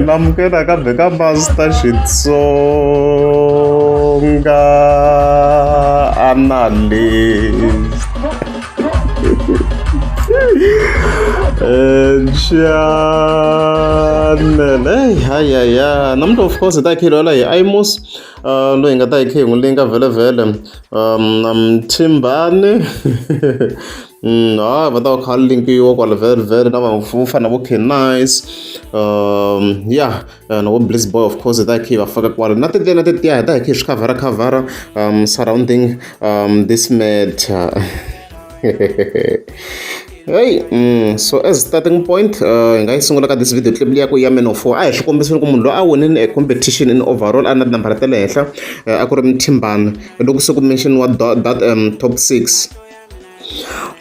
namukela kambe ka master xitsonga analyst channel hey hayaya namuntlha of course hi ta hi khelwela hi imus uh, loyi hi nga ta hi khe hi n'wi linga vhele vhele Mthimbani hayi va ta va kha va linkiwa kwale very very na vanhu vo fana na vo Canicc ya na vo Blizz Boy of course hi ta hi kha hi va faka kwale na tintsena tetiya hi ta hi kha hi swi khavharakhavhara surrounding this matter. heyi mm, so as starting point uh, hi nga yi sungula ka this video clip liya ku ya man of four a hi swi kombisini ku munhu loyi a winini a competition in overall a na tinambara ta le henhla uh, a ku ri mthimbana loko se ku mention wa that um, top six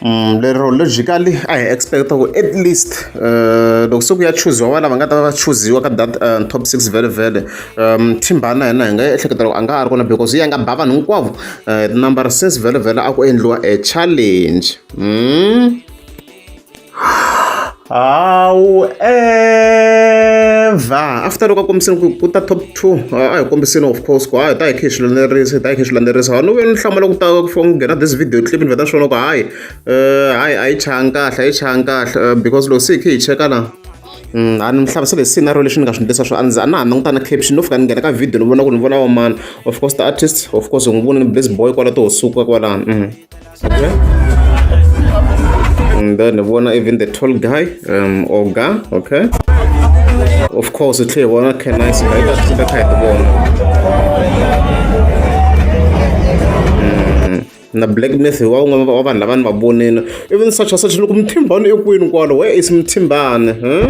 Mm, lero logically a hi expecta ku at least uh, loko se ku ya chuziwa vana va nga ta va chuziwa ka that uh, top six vele vele um thimbana hina hi nga ehleketa loko a nga ha ri kona because yi ya nga ba vanhu hinkwavo eh, number six vhele vhele a ku endliwa a challenge hmm? hawu ever after loko a kombisini ku ku ta top two a hi kombisini of course ku hayi ta hi khe hi swilandzelerisa ta hi khe hi swilandzelerisa ha ni vuye ni hlamula ku ta ku nghena this video clip ni vheta swona ku hayi um hayi a yi changa kahle a yi changa kahle eh, because loko se hi khe hi cheka la a ni mi hlamusela hi scenario lexi ni nga swi endlisa swo a ndzi a na ha langutana caption no fika ni nghena ka video ni vona ku ni vona wa mani of course the artist of course hi n'wi vona ni blaze boy kwala to suka kwalano mhm. okay and then ni vona even the tall guy um oga okay of course u tlhe hi vona can nice guy ta tlhe kha hi ti vona na black math wa un'wana wa vanhu lava ni va vonile even such a such loko muthimbani i kwini kwalo where is muthimbani hmm?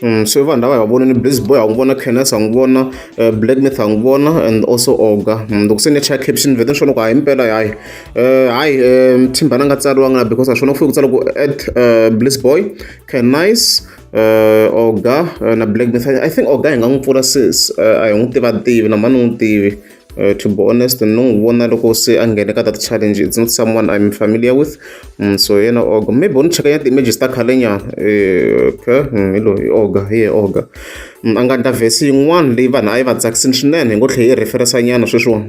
Mm, so vanhu lava hi va vona ni blaze boy ha n'wi vona canes ha n'wi vona eh, black myth ha n'wi vona and also oga mm, loko se ni ya chaya caption vete ni swo loko hayi mpela hayi Uh, hi, um, Timbana nga tsariwanga because a swona ku fike ku tsala ku at uh, Bliss Boy, Can Nice, uh, Oga uh, na Black Myth. I think Oga hi nga n'wi pfula sis, uh, a hi n'wi tiva tivi na mani n'wi tivi. Uh, to be honest no n'wi vona loko se a nghene ka that challenge it's not someone i'm familiar with mm, so yena oga maybe u ni cheka ya ti-images ta khalenyana eh, okay mm, hi loyi oga hi ye oga mm, a nga ndla vhesi yin'wana leyi vanhu a yi va tsakisini swinene hi ngo tlhe yi referensa nyana sweswiwani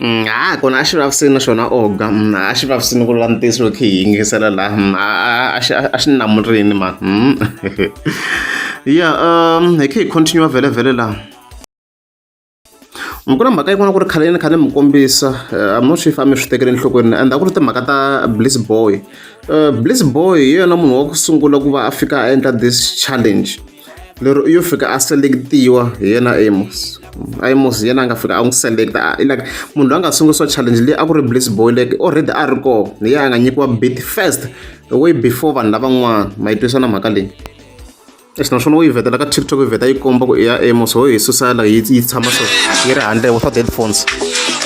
Mm, ha kona a xi vavisini na xona oga mm, a xi vavisini ku lava ntiyiso loko hi yingisela laha mm, a xi a xi namurini ma ya um hi khe hi continue vhele vhele laha ku na mhaka yin'wana ku ri khaleni khale mi kombisa eh, i'm not sure if a mi swi tekele enhlokweni and a ku ri timhaka ta bliss boy uh, bliss boy hi yena munhu wa ku sungula ku va a fika a endla this challenge lero u yo fika a selekitiwa hi yena amos amos hi yena a nga fika a n'wi selekta like munhu loyi a nga sungurisiwa challenge leyi a ku ri bliss boy like already a ri kona hi yena a nga nyikiwa bit first way before vanhu lavan'wana ma yi twisana mhaka leyi leswi naswona u yi vetela ka tiktok yi veta yi komba ku i ya amos ho yi susa la yi tshama so yi ri handle without headphones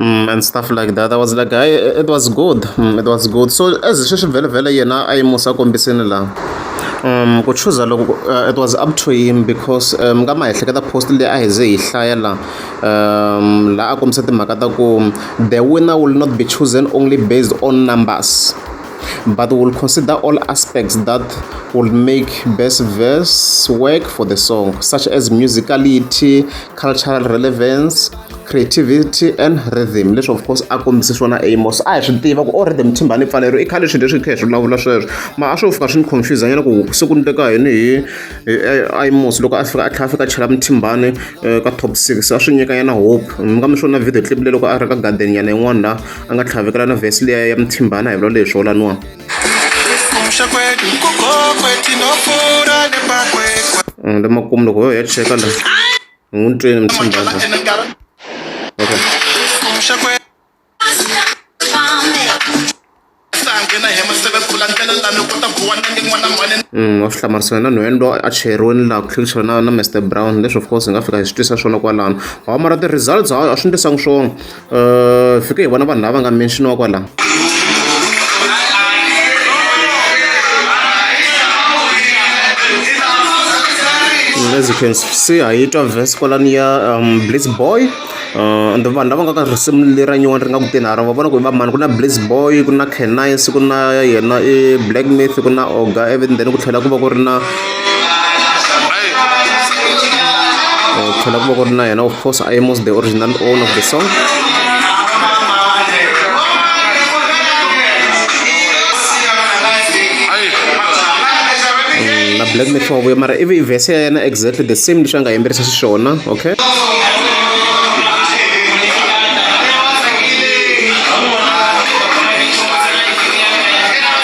Mm, and stuff like that i was like I, it was good mm, it was good so as swi swi vhelavhela yena a yi musa kombisini laha um ku chuza loko uh, it was up to him because um ka ma ehleketa post leyi a hi ze hi hlaya la um laha a kombisa timhaka ta ku the winner will not be chosen only based on numbers but will consider all aspects that will make best verse work for the song such as musicality cultural relevance creativity and rhythm leswi of course a kombise swona amos a hi swi tiva ku o oh, rhythm thimbani pfalero i khale swilo leswi hi kha hi swi vulavula sweswo ma a swo fika swi ni confuse nyana ku siku ni teka yini hi amos loko a fika a tlhela a fika a chela muthimbani eh, ka top six a swi nyika yena hope mi nga mi swona video clip le loko a ri ka garden yana yin'wana la a nga tlhavekela na vhesi leya ya muthimbani a hi vula leswo laniwa mm, lemakumu loko yo ya cheka la ni n'wi twini mi tshembaka okay wa swi hlamarisiwa na nhwene loyi a cheriweni laha ku tlherisiwa na na mr brown leswi of course hi nga fika hi swi twisa swona kwalano hawa mara ti-results hawa a swi ndlisanga swona uh, fike hi vona vanhu lava nga menxiniwa kwalaho as you can see ha yi twa vhesi kwalani ya um, blitz boy uh, and vanhu lava nga ka risimu lera nyuwani ri nga kuteni ha ra va vona ku i va mani ku na blitz boy ku na canice ku na yena i black myth ku na oga even then ku tlhela ku va ku ri na Eh, tlhela ku va ku ri na yena of course i was the original owner of the song na black mix wa vuya mara ivi vhese ya yena exactly the same leswi a nga yimbelisa xiswona okay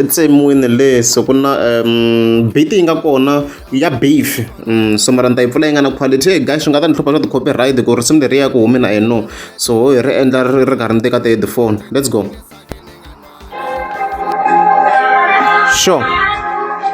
ensin'wini leyi so ku na beat yi nga kona ya beef so mara ni ta yi pfula yi nga na quality hey guys swi nga ta ni hlupha swa ti-copyright ku risimu leri ya ku humi na eno so ho hi ri endla ri ri karhi ni teka ti-headphone let's go sure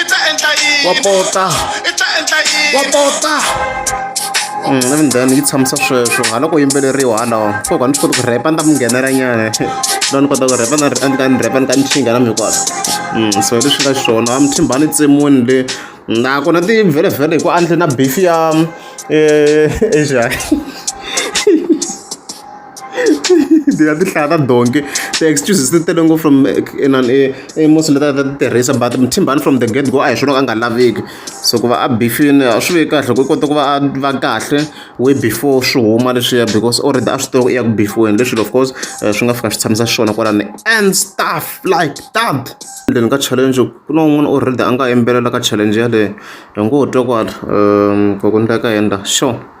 i ta endla yini wa pota i ta endla yini wa pota navindani yi tshamisa sweswo hala ku yimbeleriwa halawa koko a ni swi koti ku rhepa ni ta mi nghenela nyana loko ni kota ku rhepa ni ka ni rhepa ni ka ni xinga na mikwata so hi leswi nga xona a mi thimbani tsemuni le nakona ti vhelevhele hi ku andle na bifi ya asia ndzi nga ti hlaya ta donki ti-excuses ti tele ngopfu from inani emosi leti a ta ti tirhisa but muthimbani from the get go a hi swona a nga laveki so ku va a bifini a swi veki kahle ku kota ku va a va kahle way before swi huma leswiya because already a swi tiva ku i ya ku bifiweni leswi of course eh, swi nga fika swi tshamisa xiswona kwalani and stuff like that endleni ka challenge ku na un'wana already a nga yimbelela ka challenge yaleyo hi ngo twa kwala um kokundleka henda sure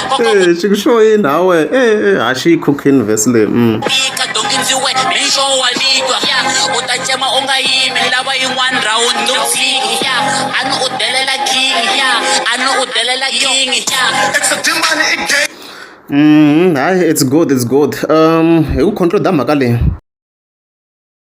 Eh, xi ku xo yini hawe eh, ha xi yi cookini vhesi leyi mm. fika dongi ndzi we mixo wa litwa ya u ta cema u nga yimi lava yin'wana round no fiki ya a ni u delela king ya a ni u delela king ya Mm, hayi it's good it's good um hi ku control da mhaka leyi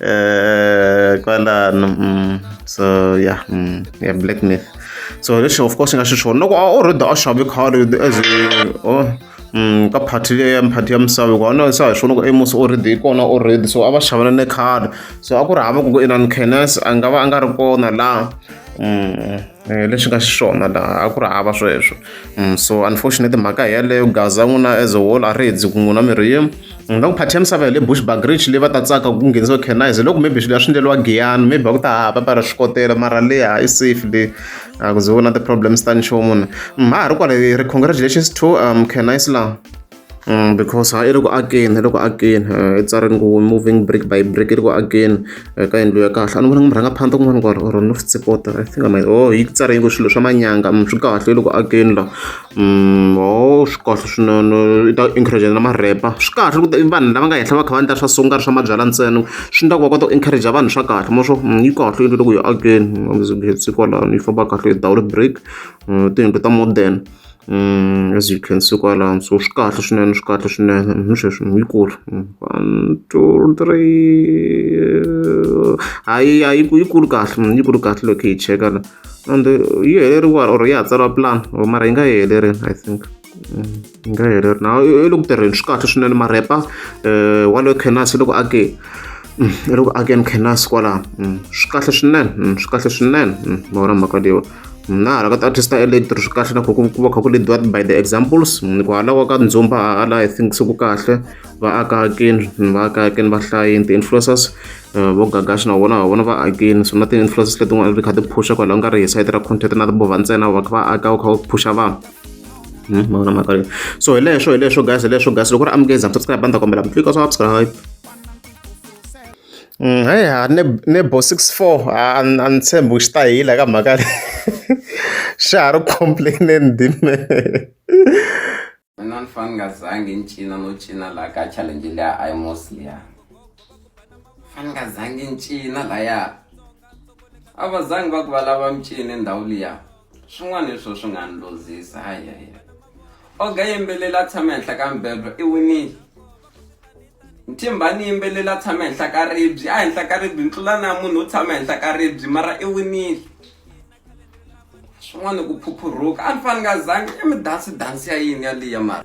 Eh, kwalano mm, so yeah mm, yeah black myth so lexi of course nga xi xona loko a already a xave khale as oh mm, ka party leyi ya party ya misava hikuva na sa hi swona ku emos already kona already so a va xavana ne khale so a ku ri hava ku ku inan kenes a nga va a nga ri kona laha eh, lexi nga xiswona laha a ku ri hava sweswo so unfortunately mhaka hi yaleyo gaza n'wina as a whole a ri hedzi ku n'wina mirhi yim ni nga ku phathi ya misava ya le bushback rich leyi va ta tsaka ku nghenisiwa canise loko maybe swilo ya swi endleriwa giyani maybe va ku ta hava va ra swi kotela mara leya i safe le a ku ze vona ti-problems ta nchumu ni ma ha ri kwale ri congratulations to um canise laha Mm, because ha i ri ku akeni i ri ku akeni i tsari ngo moving brick by brick i ri ku akeni ka yindlu ya kahle a ni vona nga murhanga phanda kun'wana ku or no swi tsipota i think i might oh yi tsari ngo swilo swa manyanga swi kahle i ri ku akeni laha Mehe swi kahle swinene i ta encourager na ma-rapper. Swi kahle loko i vanhu lava nga henhla va kha va endla swa so ku nga ri swa mabyalwa ntsena. Swi endla ku va kota ku encourager vanhu swa kahle ma swi tiva ku yi kahle yini loko hi akeni as you can see kwalano yi famba kahle without break. Tiyindlu ta modern as you can see kwalano so swi kahle swinene swi kahle swinene hi sweswo yi kulu one, two, three hayi hayi yi kulu kahle yi kulu kahle loko hi yi cheka la. and yi heleriwa or ya ha tsariwa plan or mara yi nga yi helerile i think mm, yi nga heleri na i le ku tirheni swi kahle swinene marepa um eh, wa le kenasi loko ake mm, i loko ake ni kenasi kwalaho mm, swi kahle swinene swi kahle swinene ma vona mhaka leyiwa na hala ka ti-artist ta electro swi kahle na ku ku va kha ku leadiwa by the examples ku halawa ka ndzumba hala i think se ku kahle va aka hakini va aka hakini va hlayini ti-influencers vo Gagash na vona wa vona va akini so na ti-influences letin'wana ti kha ti phusha kwalaho nga ri hi side ra content na timovha ntsena va kha va aka u kha u phusha vanhu hmm, mavona mhaka leyi so hi leswo hi leswo guys hi leswo guys loko ri amukeza subscribe a ni ta kombela mi tlika swa subscribe hmm, he ha nebo six four a ni tshembi u xi ta hila ka mhaka leyi xa ha ri complaineni dime Mina ni fane ni nga zangi ni cina no cina la ka challenge liya a yi mosi liya fane ni nga zangi ni cina laya a va zangi va ku va lava mi cine ndhawu liya swin'wana hi swo swi nga ni luzisa hayaya oga yimbeleli a tshama henhla ka mibedwa i winile Mthimbani yimbeleli a tshama henhla ka ribye a henhla ka ribye ni tlula na munhu wo tshama henhla ka ribye mara i winile. swin'wana ku phuphuruka a ni fani nga zangi i mi dansi dansi ya yini ya liya mara